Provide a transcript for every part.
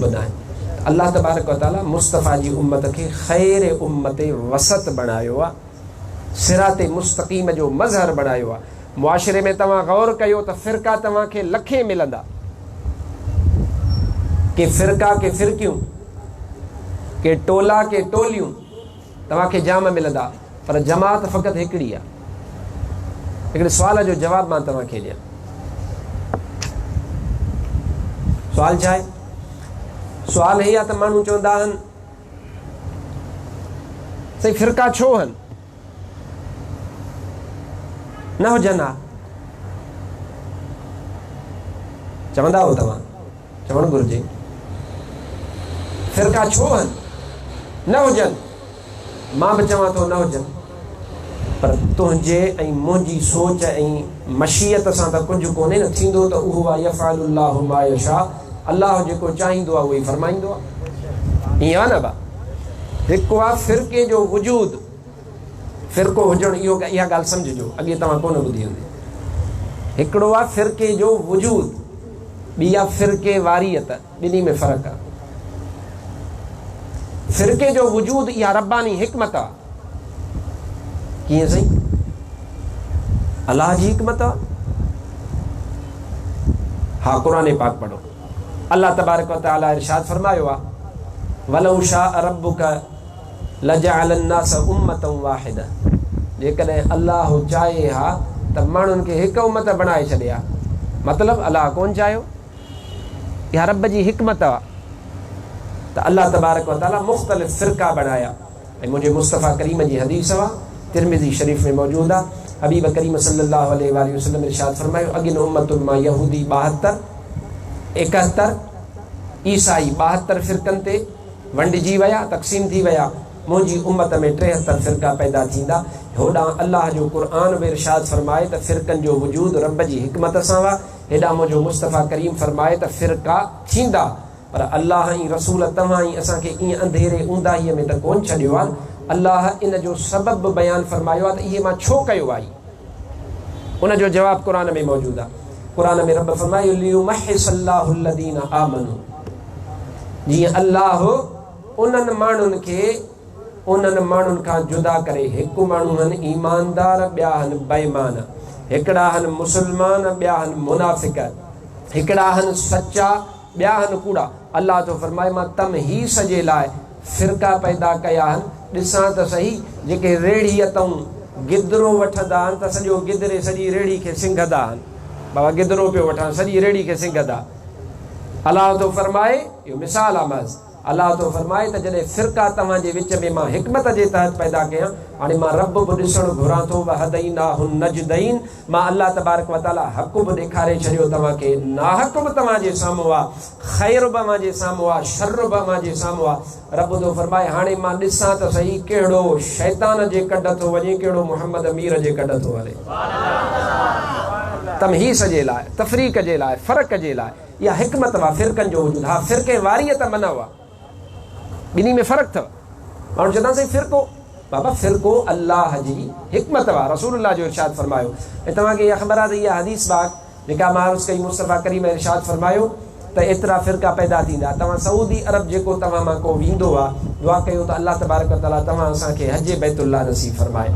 ٻڌائين ته الله تبارڪ و تعالي مصطفيٰ جي امت کي خير امت وسط بڻايو آ صراط مستقيم جو مظهر بڻايو آ معاشري ۾ توهان غور ڪيو ته فرقا توهان کي لکين ملندا ڪي فرقا ڪي فرقيون ڪي ٽولا ڪي ٽوليون توهان کي جام ملندا پر جماعت فقط هڪڙي آ. هڪڙي سوال جو جواب مان توهان کي ڏيان. سوال ڇا آهي؟ سوال هي آ ته ماڻهو چوندا آهن سائين فرقا ڇو هن نه هجن ها چوندا هو توهان چوڻ گهرجي فرقا ڇو آهن نه هجن مان به چوان ٿو نه هجن پر تنهنجي ۽ منهنجي سوچ ۽ مشيت سان ته ڪجهه ڪونهي نه ٿيندو ته اهو آ يفعل الله ما يشاء الله جيڪو چاهيندو آ اهو ئي فرمائيندو آ ائين آ نه با هڪ آ فرقي جو وجود فرقو هجڻ اهو اها ڳالهه سمجهجو اڳي توهان ڪونه ٻڌي هوندي هڪڙو آ فرقي جو وجود ٻي آ فرقي واريت، ٻنهي ۾ فرق آ. فرقي جو وجود اها رباني حڪمت آ. ڪيئن سائين؟ الله جي حڪمت آ. ها قرآن پاڪ پڙهو. الله تبارڪ و تعالي ارشاد فرمايو آ ولو شاء ربک لجعل الناس امة واحدة جيڪڏهن الله چاهي ها ته ماڻهن کي هڪ امت بڻائي ڇڏي ها مطلب الله ڪون چاهيو اها رب جي حڪمت آ ته الله تبارڪ وتعالي مختلف فرقا بڻايا ۽ منهنجي مصطفيٰ ڪريم جي حديث آ ترمذي شريف ۾ موجود آ حبيب ڪريم صلي الله عليه واٰله وسلم ارشاد فرمايو اڳين امتن مان يهودي ٻاهتر ايڪهتر عيسائي ٻاهتر فرقن تي ونڊجي ويا، تقسيم ٿي ويا، منهنجي امت ۾ ٽيهتر فرقا پيدا ٿيندا، هوڏانهن الله جو قرآن به ارشاد فرمائي ته فرقن جو وجود رب جي حڪمت سان هئا، هيڏانهن منهنجو مصطفيٰ ڪريم فرمائي ته فرقا ٿيندا، پر الله ۽ رسول توهان ۽ اسان کي ائين انڌيري اونداهيء ۾ ته ڪونه ڇڏيو آهن، الله ان جو سبب به بيان فرمايو آهي ته اهي مان ڇو ڪيو آهي. ان جو جواب قرآن ۾ موجود آهي قرآن ۾ رب فرمايو ليمحص الله الذين آمنوا جيئن الله انهن ماڻهن کي انهن ماڻهن کان جدا ڪري هڪ ماڻهو هن ايماندار ٻيا هن بيمان هڪڙا هن مسلمان ٻيا هن منافق هڪڙا هن سچا ٻيا هن ڪوڙا. الله ٿو فرمائي، مان تمحيص جي لاء فرقا پيدا ڪيا آهن، ڏسان ته سهي، جيڪي ريڙهيء تئون گدرو وٺندا آهن ته سڄو گدري سڄي ريڙهي کي سنگهندا آهن. بابا گدرو پيو وٺان، سڄي ريڙهي کي سنگهندا. الله ٿو فرمائي، اهو مثال آهي محض. الله ٿو فرمائي ته جڏهن فرقا توهان جي وچ ۾ مان حڪمت جي تحت پيدا ڪيان، هاڻي مان رب به ڏسڻ گهران ٿو، وهديناه النجدين، مان الله تبارڪ وتعاليٰ حق به ڏيکاري ڇڏيو توهان کي، ناحق به توهان جي سامهون آ، خير به اوهان جي سامهون آ، شر به اوهان جي سامهون آ، رب ٿو فرمائي هاڻي مان ڏسان ته سهي ڪهڙو شيطان جي ڪڍ ٿو وڃي ڪهڙو محمد مير جي ڪڍ ٿو هلي. تمحيص جي لاء، تفريق جي لاء، فرق جي لاء. يا حڪمت وا فرقن جو وجود ها فرقي واريء ته منع وا ٻنهي ۾ فرق ٿو ماڻهو چوندان سائين فرقو بابا فرقو الله جي حڪمت وا رسول الله جو ارشاد فرمايو ۽ توهان کي اها خبر آهي ته اها حديث باغ نڪاح معروض ڪئي مصطفيٰ ڪريم ارشاد فرمايو ته ايترا فرقا پيدا ٿيندا توهان سعودي عرب جيڪو توهان مان ڪو ويندو وا دعا ڪيو ته الله تبارڪ و تعالي توهان اسان کي حج بيت الله نصيب فرمائي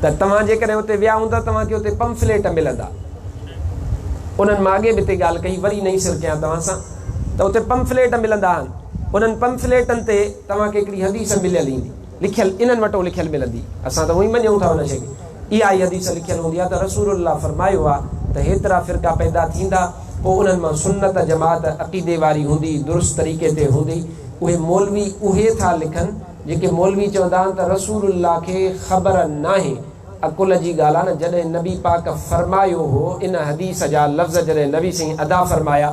ته توهان جيڪڏهن اتي ويا هوندا توهان کي اتي پمفليٽ ملندا انهن مان اڳي به اتي ڳالهه ڪئي، وري نئين سر ڪيان توهان سان ته اتي پمفليٽ ملندا آهن، انهن پمفليٽن تي توهان کي هڪڙي حديث مليل ايندي، لکيل، انهن وٽون لکيل ملندي، اسان ته هونئن مڃون ٿا ان شيء کي، اها ئي حديث لکيل هوندي آهي ته رسول الله فرمايو آهي ته هيترا فرقا پيدا ٿيندا، پوء انهن مان سنت جماعت عقيدي واري هوندي، درست طريقي تي هوندي، اهي مولوي اهي ٿا لکن جيڪي مولوي چوندا آهن ته رسول الله کي خبر ناهي عقل جي ڳالهه آهي نه جڏهن نبي پاڪ فرمايو هو ان حديث جا لفظ جڏهن نبي سائين ادا فرمايا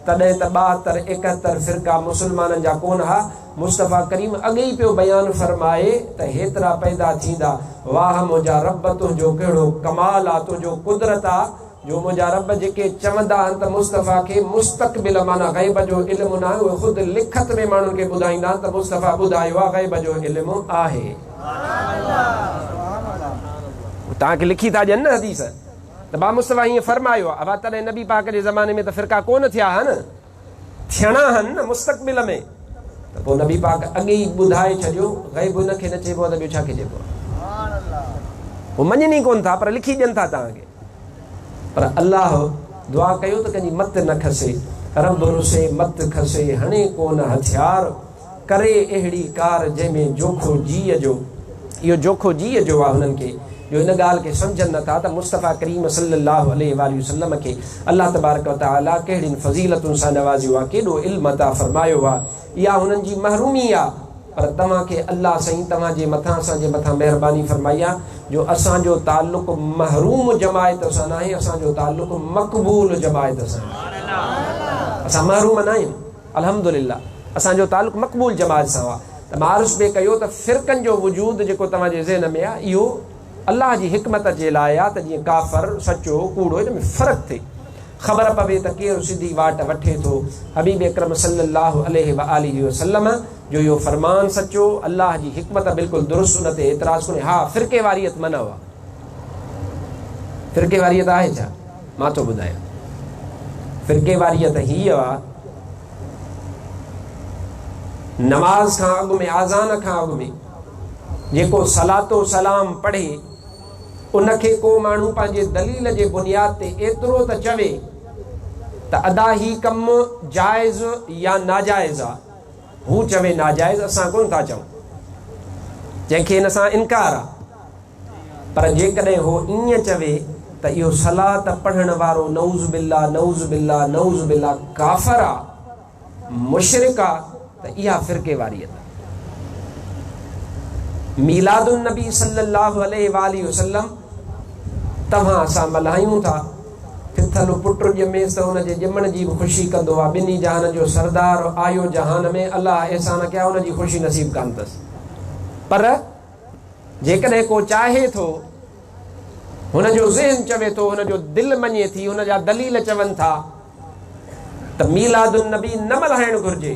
تڏهن ته ٻاهتر ايڪهتر فرقا مسلمانن جا ڪونه ها مصطفي ڪريم اڳ ئي پيو بيان فرمائي ته هيترا پيدا ٿيندا واهه منهنجا رب تنهنجو ڪهڙو ڪمال آ تنهنجو قدرت آ جو منهنجا رب جيڪي چوندا آهن ته مصطفيٰ کي مستقبل معنيٰ غيب جو علم ناهي اهي خود لکت ۾ ماڻهن کي ٻڌائيندا آهن ته مصطفيٰ ٻڌايو آهي غيب جو علم آهي هو توهان کي لکي ٿا ڏين نه حديث ته بامصطفيٰ هيئن فرمايو آهي اها تڏهن نبي پاڪ جي زماني ۾ ته فرقا ڪونه ٿيا ها نه ٿيڻا هن مستقبل ۾ ته پوء نبي پاڪ اڳي ئي ٻڌائي ڇڏيو غيب ان کي نه چئبو آهي ته ٻيو ڇا کي چئبو آهي هو مڃن ئي ڪونه ٿا پر لکي ڏين ٿا توهان کي پر الله دعا ڪيو ته ڪنهن جي مت نه کسي رب رسي مت کسي هڻي ڪونه هٿيار ڪري اهڙي ڪار جنهن ۾ جوکو جيء جو اهو جوکو جيء جو آ هنن کي جو ان ڳالهه کي سمجهن نه ٿا ته مصطفيٰ ڪريم صلي الله عليه واٰله وسلم کي الله تبارڪ وتعالي ڪهڙين فضيلتن سان نوازيو آ ڪيڏو علم عطا فرمايو آ اها هنن جي محرومي آ پر توهان کي الله سائين توهان جي مٿان اسان جي مٿان مهرباني فرمائي آ جو اسان جو تعلق محروم جماعت سان ناهي اسان جو تعلق مقبول جماعت سان آهي اسان محروم ناهيون. الحمد لله اسان جو تعلق مقبول جماعت سان آ ته مان عرض پي ڪيو ته فرقن جو وجود جيڪو توهان جي ذهن ۾ آ اهو الله جي حڪمت جي لاء آ ته جيئن ڪافر سچو ڪوڙو ان ۾ فرق ٿئي خبر پوي ته ڪير سڌي واٽ وٺي ٿو حبيب اڪرم صلي الله عليه وآله وسلم جو اهو فرمان سچو الله جي حڪمت بلڪل درست ان تي اعتراض ڪونهي ها فرقي واريت منع آ فرقي واريت آهي ڇا مان ٿو ٻڌايان فرقيواريت ته هيء آ نماز کان اڳ ۾ آزان کان اڳ ۾ جيڪو صلات و سلام پڙهي ان کي ڪو ماڻهو پنهنجي دليل جي بنياد تي ايترو ته چوي ته ادا هي ڪم جائز يا ناجائز آ هو چوي ناجائز اسان ڪونه ٿا چئون جنهن کي ان سان انڪار آ پر جيڪڏهن هو ائين چوي ته اهو صلات پڙهڻ وارو نعوذ بالله نعوذ بالله نعوذ بالله ڪافر آ مشرڪ آ ته اها فرقيواريت آ. ميلاد النبي صلي الله عليه واٰله وسلم توهان اسان ملهايون ٿا ٿٿل پٽ ڄميس ته ان جي ڄمڻ جي به خوشي ڪندو آ ٻنهي جهانن جو سردار آيو جهان ۾ الله احسان ڪيا ان جي خوشي نصيب ڪانه ٿس پر جيڪڏهن ڪو چاهي ٿو، هن جو ذهن چوي ٿو، هن جو دل مڃي ٿي، هن جا دليل چون ٿا ته ميلاد النبي نه ملهائڻ گهرجي،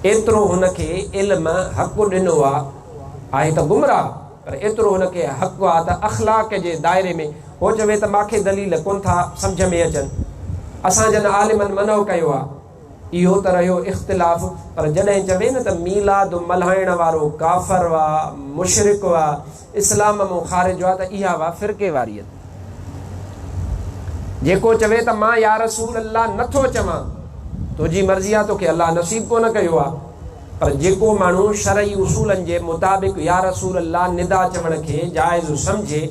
ايترو هن کي علم حق ڏنو آ، آهي ته گمراهه پر ايترو هن کي حق آ ته اخلاق جي دائري ۾ هو چوي ته مان کي دليل ڪون ٿا سمجهه ۾ اچن، اسان جن عالمن منع ڪيو آ. اهو ته رهيو اختلاف پر جڏهن چوي نه ته ميلاد ملهائڻ وارو ڪافر وئا مشرڪ وئا اسلام مون خارج وئا ته اها وئا فرقي واريت جيڪو چوي ته مان يارسول الله نه ٿو چوان تنهنجي مرضي آ توکي الله نصيب ڪونه ڪيو آ. پر جيڪو ماڻهو شرعي اصولن جي مطابق يا رسول الله ندا چوڻ کي جائز سمجهي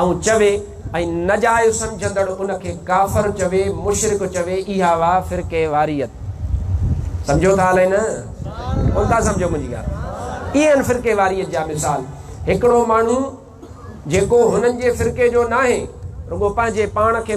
۽ چوي ۽ ناجائز سمجهندڙ ان کي ڪافر چوي، مشرڪ چوي، اها هئا فرقه واريت. سمجهو ٿا الائي نه؟ ڪونه ٿا سمجهو منهنجي ڳالهه؟ اهي آهن فرقه واريت جا مثال. هڪڙو ماڻهو جيڪو هنن جي فرقي جو ناهي رڳو پنهنجي پاڻ کي